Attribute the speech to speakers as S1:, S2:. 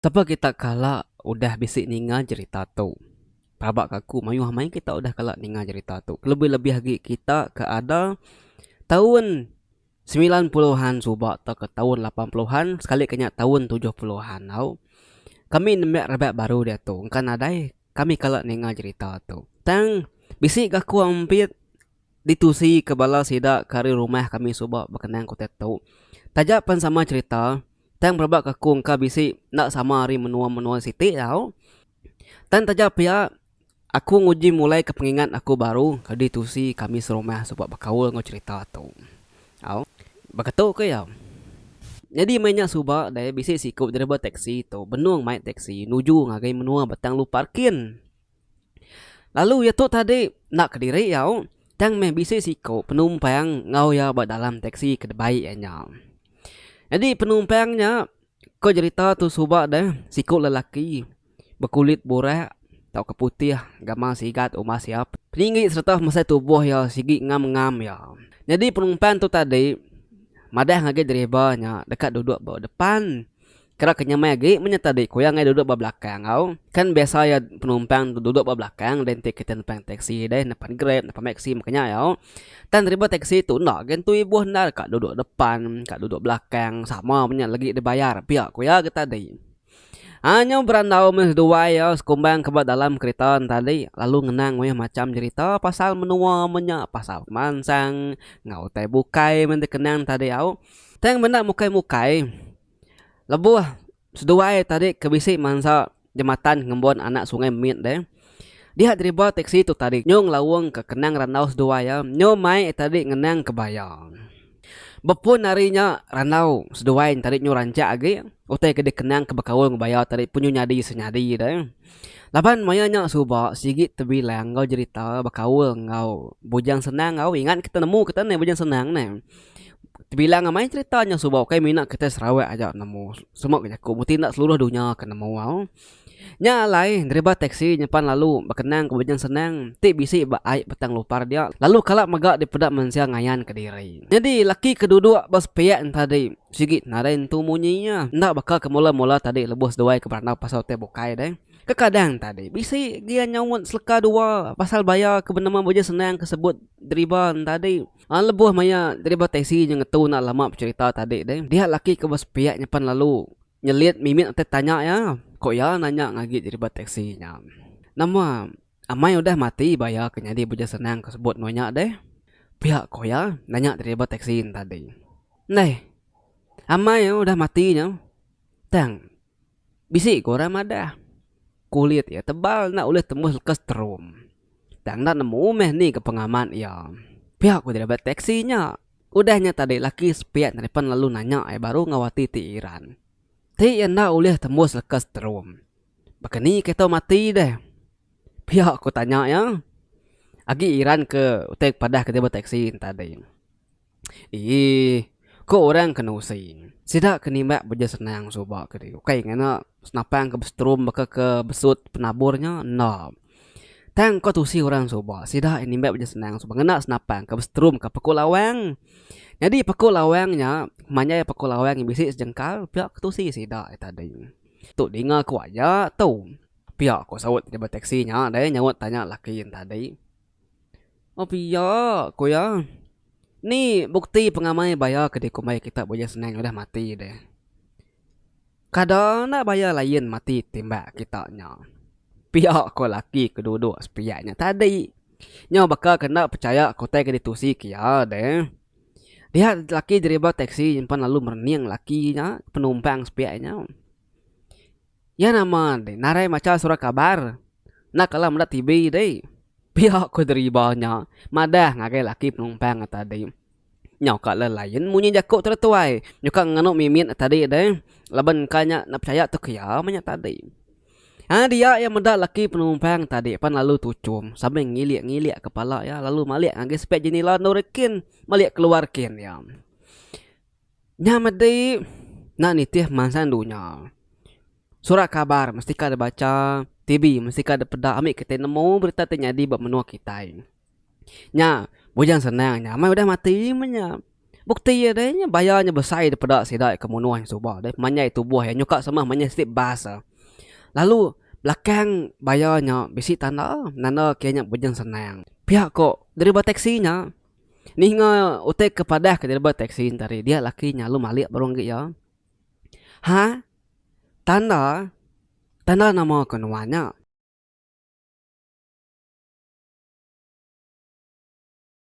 S1: Sapa kita kala udah bisi ninga jerita tu? Pelaba ka aku mayuh amai kita udah kala ninga jerita tu. Kelebih-lebih agi kita ke ada taun semilan puluhan suba tauka taun lapan puluhan sekali ka nya taun tujuh puluhan tau. Kami nembiak raban baru diatu engka nadai kami kala ninga jerita tu. Tang bisi ga aku ampit ditusi ke bala sida ke ari rumah kami suba bekenang ku diatu. Taja pen sama jerita. Tang belebak ke aku engka bisi enda sama ari menua-menua siti tau. Tang taja pia aku nguji mulai ke pengingat aku baru kadi tusi kami serumah suba bekaul enggau cherita tu. Au baka tu ke iya. Nyadi meh nya suba deh bisi siku driver teksi tu benung mai teksi nuju ngagai menua Batang Lu Parkin. Lalu iya tu tadi enda kediri iya tang meh bisi siko penumpang enggau iya ba dalam teksi ke dibai iya nya. Jadi penumpang nya ko jerita tu suba deh siko lelaki bekulit burak tauka putih gamal sigat umas iya peninggi serta mesai tubuh iya sigi ngam ngam iya. Jadi penumpang tu tadi madah ngagai driver nya deka duduk ba depan. Kira ke nyemai agi menyereta diri ku iya ngagai duduk ba belakang au. Kan biasa iya penumpang tu duduk ba belakang deh enti kita nepan teksi deh, nepan grab, nepan meksi maka nya au. Tang driver teksi tu enda agi nentu ibuh enda deka duduk depan ka duduk belakang sama menya legi dibayar pia ku iya getah tadi. Ai nyau berandau meh seduai au sekumbang ke ba dalam kereta ne tadi lalu ngenang meh macham jerita pasal menua menya pasal pemansang enggau utai bukai men dikenang tadi au. Tang menda mukai-mukai. Lebuh seduai tadi ke bisi mansa jematan ngembun anak Sungai Mit deh, diha driba teksi tu tadi nyu ngelaung ka kenang randau seduai iya nyu mai iya tadi ngenang ka baya. Bepun ari nya randau seduai nya tadi nyu rancak agi utai ke dikenang ka bekaul enggau baya tadi pun nyu nyadi senyadi deh. Laban maya nya suba sigi tebilang enggau jerita bekaul enggau Bujang Senang au ingat kita nemu kita neh Bujang Senang neh. Tebilang amai cerita nya suba ukai mina kitai Sarawak aja nemu semua ke jaku mesti enda seluruh dunya ke nemu au. Nya alai driver teksi nyimpan lalu bekenang ke bujung senang ti bisi ba ai petang lupar dia lalu kala mega dipeda mensia ngayan ke diri. Nyadi laki ke duduk ba sepiak nya tadi sigi nadai nentu munyi iya enda baka ke mula-mula tadi lebuh seduai ke berandau pasal utai bukai deh. Kekadang tadi bisi gia nyaut seleka dua pasal bayar ke penemu bujung senang ke sebut driver nya tadi. Aa lebuh maya driver taksi nya ngetu enda lama becherita tadi deh, dia laki ke ba sepiak nya pan lalu nyelit mimit utai tanya iya, ko iya nanya ngagi driver taksi nya, nama amai udah mati ba iya ke nyadi beja senang ke sebut meh nya deh? pia ko iya nanya driver taksi nya tadi. Neh, amai udah mati nya tang. Bisi ke orang madah, kulit iya tebal enda ulih tembus leka seterum. Tang enda nemu meh ni ke pengamat iya. Pia ku driver teksi nya. Udah nya tadi laki sepiak neripen lalu nanya iya baru enggau ati ti iran. Ti iya enda ulih tembus leka seterum. Baka ni ke tau mati deh? Pia ku tanya iya. Agi iran ke utai ke padah ke driver teksi nya tadi. Ii, Ku orang ke nusi, sida ke nimbak beja senang suba ke diri ukai ngena senapang ke besetrum baka ke besut penabur nya enda. Tang ko tusi orang suba, sida aja nimbak beja senang suba ngena senapang ke besetrum ka peko lawang. Nyadi peko lawang nya manjai peko lawang nya bisi sejengkal pia ko tusi sida aja tadi. Tu dinga ku aja tu, pia ko saut driver teksi nya dei nyaut tanya laki nya tadi. Api iya, ku iya. Ni bukti pengamai baya ke dikumbai kita Bujang Senang udah mati deh. Kada enda baya lain mati timbak kita nya. Pia ko laki ke duduk sepiak nya tadi. Nya baka ke enda pechaya ke utai ke ditusi ke iya deh. Dia laki deriba teksi nyimpan lalu merening laki nya penumpang sepiak nya. Iya nama deh narai macha surat kabar. Enda kala meda TV deh. Pia ku deriba nya madah ngagai laki penumpang nya tadi. Nyau ka le lain munyi jaku tu deh tuai. Nyuka ngenu mimit nya tadi deh. Laban engka nya enda pechaya tu ke iya meh nya tadi. Ai dia iya meda laki penumpang tadi pan lalu tuchum sambil ngilik-ngilik kepala iya lalu malik ngagai sepit jenila endur iya kin malik keluar kin iya. Nya medi enda nitih pemansang dunya. Surat kabar mesti ka dibacha, TV mesti ka dipeda ami kitai nemu berita ti nyadi ba menua kitai. Nya bujang senang nya amai udah mati meh nya. Bukti iya deh nya baya nya besai dipeda sida ke menuh nya suba deh pemanjai tubuh iya nyukak semeh manya siti bas eh. Lalu belakang baya nya bisi tanda, nanda ke nya bujang senang. Pia ko deriba teksi nya. Ninga utai ke padah ke driver teksi enti hari dia laki nya lalu malik baru enggi iya. Ha tanda tanda nama ke nuan nya.